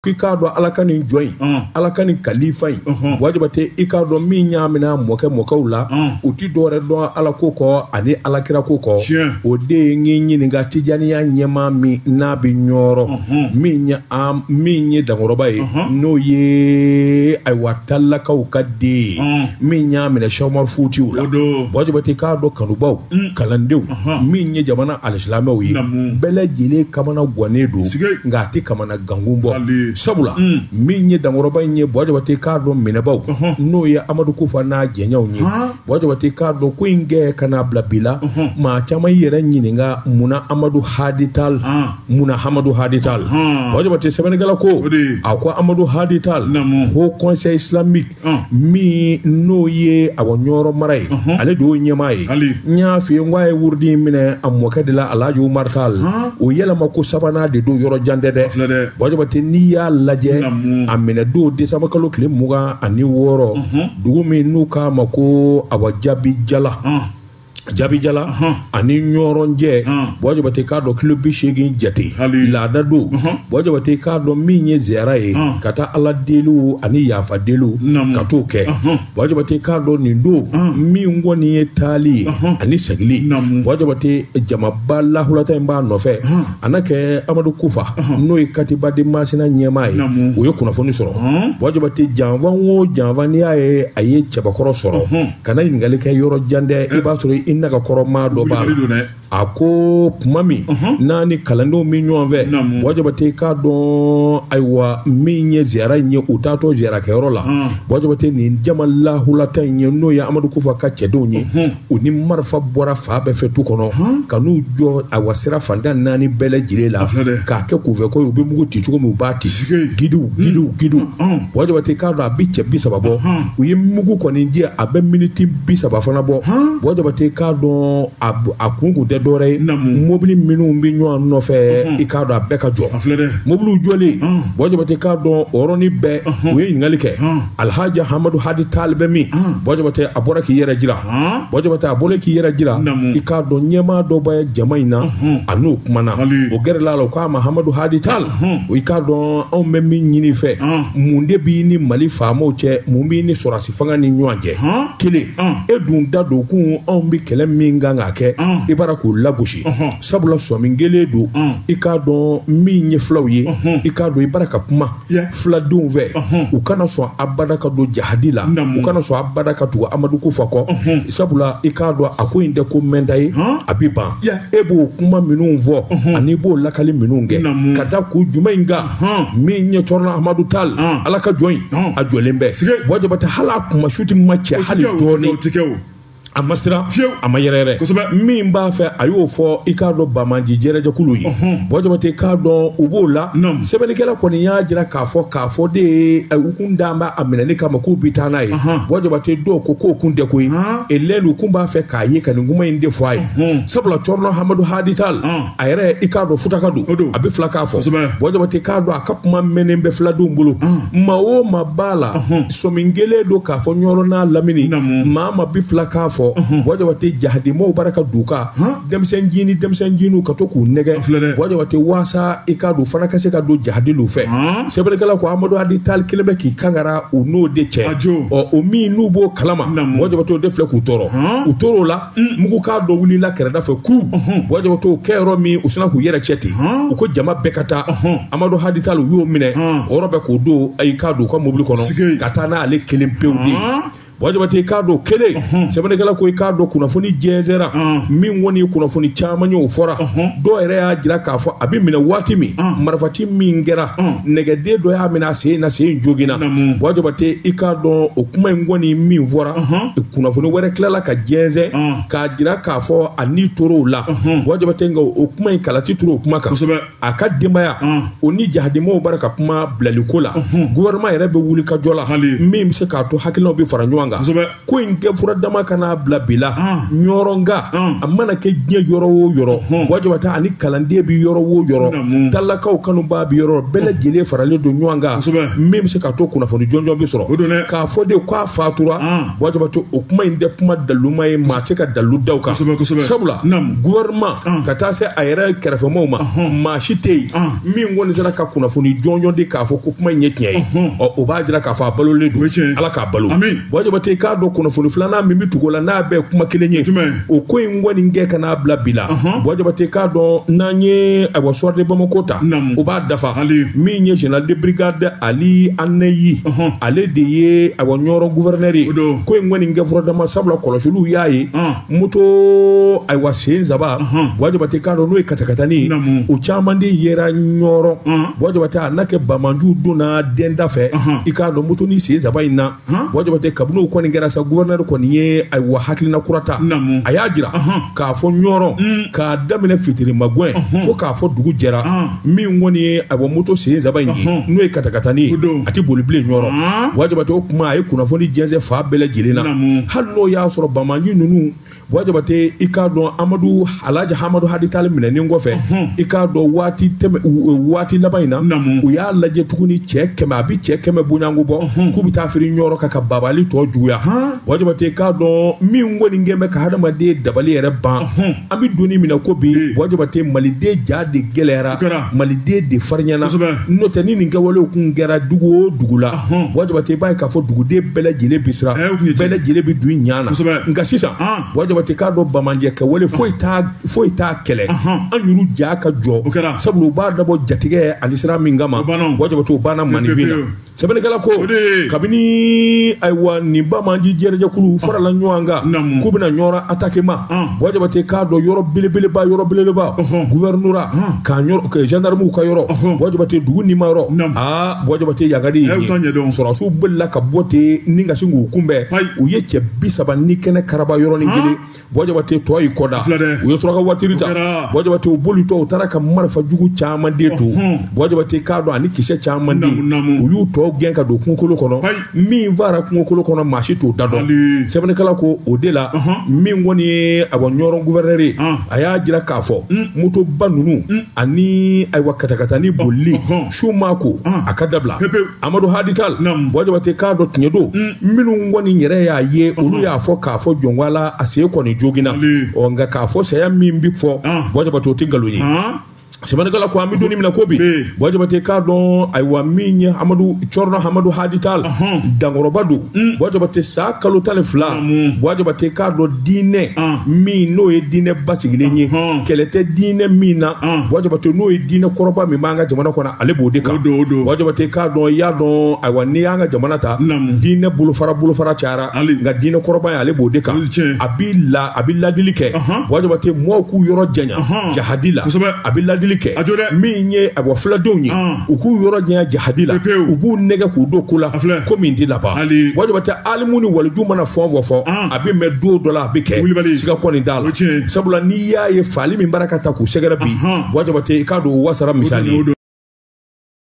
k'i k'a dɔn ala ka nin jɔn in ala ka nin kalifa in bɔ jabate i k'a dɔn min y'a minɛ mɔkɛ mɔkɛw la u ti dɔwɛrɛ dɔn ala ko kɔ ani alakira ko kɔ o de ye n ɲininka tijaniya ɲɛmaa min n'a bɛ ɲɔrɔ min ye dankɔrɔba ye n'o ye ayiwa talakaw ka den ye min y'a minɛ sɛku umaru futiyu la bɔ jabate i k'a dɔn kanubaw mm. kalandenw min ye jamana alisilamɛw ye bɛɛ lajɛlen kamana gannen don nka a tɛ kamana fana gankun bɔ sabula min ye dankɔrɔba in ye bɔ jabate k'a dɔn minɛbaw n'o ye amadu kufa n'a jɛɲaw ye bɔ jabate k'a dɔn ko in kɛ ka n'a bila bi la maa caman y'i yɛrɛ ɲininka munna amadu hadi tali munna amadu hadi tali bɔ jabate sɛbɛnnikɛla ko a ko amadu hadi tali haut conseil islamique min n'o ye awa ɲɔrɔ mara ye ale de y'o ɲɛmaa ye n y'a f'i ye n ko a ye wurudi in minɛ a mɔkɛ de la alhaji umaru tali o yɛlɛma ko sabanan de don yɔrɔ jan tɛ dɛ bɔ jabate n'i y'a lajɛ a minɛ don desanba kalo tile mugan ani wɔɔrɔ dugu min n'u k'a ma ko awa jabijala jabijala ani ɲɔrɔ cɛ bɔ jabate k'a dɔn kilo bi seegin jate laada don bɔ jabate k'a dɔn min ye ziyara ye ka taa ala deliw ani yafa deliw ka t'o kɛ bɔ jabate k'a dɔn nin don min kɔni ye taali ye ani segili bɔ jabate jamaba lahulata in b'a nɔfɛ a na kɛ amadu kufa n'o ye katiba de masina ɲɛmaa ye o ye kunnafoni sɔrɔ bɔ jabate janfa o janfa n'i y'a ye a ye cɛbakɔrɔ sɔrɔ kana ɲininkali kɛ yɔrɔ jan dɛ i b'a sɔrɔ i naga kɔrɔ maa dɔ b'a la a ko tuma min n'a ni kalandenw bɛ ɲɔgɔn fɛ bɔ jabate k'a dɔn ayiwa min ye ziyara in ye u taatɔ ziyara kɛyɔrɔ la bɔ jabate nin jama lahulata in ye n'o ye amadu kufa ka cɛdenw ye u ni marifa bɔra fan bɛɛ fɛ tu kɔnɔ ka n'u jɔ ayiwa sira fan tan ni naani bɛɛ lajɛlen la k'a kɛ kunfɛ ko u bɛ mugu ci cogo min u b'a ci gidiw gidiw gidiw bɔ jabate k'a dɔn a bɛ cɛ bi saba bɔ u ye mugu kɔni ci a bɛ miniti bi saba fana bɔ bɔ jabate k'a dɔn a kun kun tɛ dɔwɛrɛ ye mobili minnu bɛ ɲɔgɔn nɔfɛ i k'a dɔn a bɛɛ ka jɔ mobiliw jɔlen bɔ jabate k'a dɔn o yɔrɔnin bɛɛ u ye ɲininkali kɛ alihaji hamadu hadi tali bɛ min bɔ jabate a bɔra k'i yɛrɛ jira Ɔnhɔn. Bɔ Jabate a bɔlen k'i yɛrɛ jira, Naamu. i k'a dɔn ɲɛmaa dɔ bɛ jama in na, Ɔnhɔn. a n'o kumana, Hali. o gɛrɛla a la, o k'a ma Hamadu Hadi Tal, Ɔnhɔn. i k'a dɔn anw bɛ min ɲini i fɛ, Ɔn. mun de b'i ni Mali faamaw cɛ, mun b'i ni sɔrɔdasi fanga ni ɲɔgɔn cɛ? Ɔn. Kelen, Ɔn. e dun da don kun anw bɛ kɛlɛ min kan k'a kɛ, Ɔn. i b'a la k'o lagosi, Ɔnhɔn. sabula sɔmin gele don, Ɔn. i k'a dɔn min ye fulaw ye, Ɔnhɔn. i k'a dɔn i b'a la ka kuma. fuladenw fɛ u kana sɔn abada ka don jahadi la u kana sɔn abada ka tugu amadu kufa kɔ sabula i k'a dɔn a ko in tɛ ko mɛɛnta ye a bɛ ban e b'o kuma minnu fɔ ani i b'o lakali minnu kɛ ka da ko jumɛn in kan min ye cɔrɔnɔ amadu tal ala ka jɔn in a jɔlen bɛ buwa jabate hali a kuma su tɛ ma cɛ hali dɔɔnin a ma siran fewu a ma yɛrɛyɛrɛ kosɛbɛ min b'a fɛ a y'o fɔ i k'a dɔn banbaanci jɛrɛjɛkulu ye buwa jabate k'a dɔn u b'o la sɛbɛnnikɛla kɔni y'a jira k'a fɔ k'a fɔ de ye u kun dabɔ a minɛli kama k'u bi taa n'a ye buwa jabate dɔw ko k'o kun tɛ koyi ale de u kun b'a fɛ k'a ye ka nin kuma in de fɔ a ye sabula cɔrɔnɔ hamadu hadi tal a yɛrɛ i k'a dɔn futaka don a bɛ filakan fɔ buwa jabate k'a dɔn a ka kuma mɛnnen bɛ filadenw bolo ah. maa o maa b'a la sɔmi kɛlen don k'a fɔ ɲɔrɔ n'a lamini maa ma bɛ filakan fɔ buwa jabate jahadimaw bara ka duka denmisɛn jini denmisɛn jiniw ka to k'u nɛgɛn buwa jabate waasa i k'a dɔn fana ka se ka don jahadilu fɛ sɛbɛnnikɛla ko amadu hadi tal kelen bɛ k'i kangara u n'o de cɛ ɔ o minnu b'o kalama buwa jabate o de filɛ k'u tɔɔrɔ u tor'o la mugukan dɔ wulila kɛrɛ dɔ fɛ ko buwa jabate o kɛ yɔrɔ min u sina k'u yɛrɛ cɛ ten u ko jama bɛɛ ka taa amadu hadi tal u y'o minɛ o yɔrɔ bɛɛ k'o don i k'a dɔn u ka mobili kɔnɔ ka taa n'ale kelen pewu de buwa jabate i k'a dɔn kelen sɛbɛnnikɛla ko i k'a dɔn kunnafoni jɛnsɛra min kɔni ye kunnafoni caman ye o fɔra dɔw yɛrɛ y'a jira k'a fɔ a bɛ minɛ waati min marifaci min kɛra nɛgɛden dɔ y'a minɛ a sen na sen joginna buwa jabate i k'a dɔn o kuma in kɔni min fɔra kunnafoni wɛrɛ tilala ka jɛnsɛn k'a jira k'a fɔ a ni tor'o la buwa jabate nka o kuma in kala ti turu o kuma kan a ka denbaya o ni jahadimaw bara ka kuma bilaliko la gouvernement yɛrɛ bɛ wulikajɔ la min bɛ se k'a to hakilinaw bɛ fara ɲɔgɔn kan ko in kɛ fura dama ka na bila bi la ɲɔrɔnka a mana kɛ diɲɛ yɔrɔ o yɔrɔ buwa jabate ani kalanden bɛ yɔrɔ o yɔrɔ talakaw kanubaa bɛ yɔrɔ bɛɛ lajɛlen faralen don ɲɔgɔn kan min bɛ se k'a to kunnafoni jɔnjɔn bɛ sɔrɔ k'a fɔ de fatura buwa jabate o kuma in tɛ kuma daluma ye maa tɛ ka dalu d'a kan sabula gouvernement ka taa se a yɛrɛ kɛrɛfɛmaw ma maa si tɛ yen min kɔni sera ka kunnafoni jɔnjɔn di k'a fɔ ko kuma in ye tiɲɛ ye ɔ o b'a jira k'a fɔ a balolen don ala k'a balo buwa jabate k'a dɔn kunnafoni filanan min bɛ tugu la n'a bɛɛ kuma kelen ye o ko in kɔni kɛ ka na bila bi la buwa jabate k'a dɔn n'an ye ayiwa sɔrɔ de bamako ta o b'a dafa min ye général de brigade ali anaji ale de ye ayiwa ɲɔrɔ guvɛrɛnɛri ye ko in kɔni kɛ furadama sabula kɔlɔsiliw y'a ye moto ayiwa sen saba buwa jabate k'a dɔn n'o ye katakatani o caman de yera ɲɔrɔ buwa jabate a na kɛ banbaanciw donna denda fɛ i k'a dɔn moto ni sen saba in na buwa jabate kabini o kɔni kɛra sa guvɛrɛnɛri kɔni ye ayiwa hakilina kura ta a y'a jira k'a fɔ ɲɔrɔ k'a daminɛ fitiri magɛn fo k'a fɔ dugu jɛra min kɔni ye ayiwa moto sen saba in ye n'o ye katakatani ye a tɛ boli bilen ɲɔrɔ buwa jabate o kuma a ye kunnafoni jɛnsɛn fan bɛɛ lajɛlen na hali n'o y'a sɔrɔ banbaanci ninnu buwa jabate i k'a dɔn amadu alhaji hamadu hadi tali minɛnen kɔfɛ i k'a dɔn waati tɛmɛ waati laban in na u y'a lajɛ tuguni cɛ kɛmɛ a bɛ cɛ kɛmɛ bɔɲɔgɔnko bɔ k'u bɛ taa firi ɲɔrɔ kan ka babali tɔ juguya buwa jabate k'a dɔn min kɔni kɛn bɛ ka hadamaden dabali yɛrɛ ban an bɛ donnin min na ko bi buwa jabate maliden ja de gɛlɛyara maliden de farinyana n'o tɛ ni nin kɛwalew kun kɛra dugu o dugu la buwa jabate b'a ye k'a fɔ duguden bɛɛ lajɛlen bɛ siran bɛɛ lajɛlen bɛ don ɲa na nka sisan buwa jabate k'a dɔn banbaanci kɛwale foyi t'a foyi t'a kɛlɛ an yuru ja ka jɔ sabula u b'a dabɔ jatigɛ ani siran min kama buwa jabate o banna maaninfin na sɛbɛnnikɛla ko kabini ayiwa nin banbaanci jɛrɛjɛkulu farala ɲɔgɔn kan k'u bɛna ɲɔrɔ atake ma buwa jabate k'a dɔn yɔrɔ belebeleba yɔrɔ belebeleba guvɛrinora kan zandaramu ka yɔrɔ buwa jabate dugu nima yɔrɔ aa buwa jabate yagadi sɔrɔdasiw bolila ka bɔ ten ni ka sin k'u kunbɛn u ye cɛ bi saba ni kɛnɛ karaba yɔrɔnin kelen buwa jabate tɔ y'i kɔda u ye suraka watiri ta buwa jabate u bolitɔ u taara ka marifa jugu caman de to buwa jabate k'a dɔn ani kisɛ caman de u y'u tɔ gɛn ka don kungokolo kɔnɔ min faara kungokolo kɔnɔ maa si t'o da dɔn sɛbɛnnikɛla ko o de la min kɔni ye ayiwa ɲɔrɔ guvɛrɛnɛri ye a y'a jira k'a fɔ motoba ninnu ani ayiwa katakatani bolili su ma ko a ka dabila amadu hadi tali buwa jabate k'a dɔn tiɲɛ don minnu kɔni yɛrɛ y'a ye olu y'a fɔ k'a fɔ jɔnwala a sen kɔni joginna ɔ nka k'a fɔ saya min bɛ fɔ buwa jabate o tɛ nkalon ye sɛbɛnnikɛla ko an bɛ donnin min na ko bi buwa jabate k'a dɔn ayiwa min ye amadu cɛrinɔ amadu hadi tali dankɔrɔba don buwa jabate san kalo tan ni fila buwa jabate k'a dɔn diinɛ min n'o ye diinɛ basigilen ye kɛlɛ tɛ diinɛ min na buwa jabate n'o ye diinɛ kɔrɔba min b'an ka jamana kɔnɔ ale b'o de kan buwa jabate k'a dɔn i y'a dɔn ayiwa n'i y'an ka jamana ta diinɛ bolofara bolofara cayara nka diinɛ kɔrɔba ye ale b'o de kan a b'i la a bɛ ladili kɛ buwa jabate mɔɔw k'u yɔrɔ janya jahadi la a bɛ ladili kɛ min ye ayiwa filadenw ye u k'u yɔrɔ janya jahadi la u b'u nɛgɛn k'u don ko la ko min tɛ laban buwa jabate alimu ni waliju mana fɛn fɛn fɔ a bɛ mɛn don dɔ la a bɛ kɛ siga kɔni t'a la sabula i y'a ye faali min b'a la ka taa k'u sɛgɛrɛ bi buwa jabate i k'a dɔn o wasara misali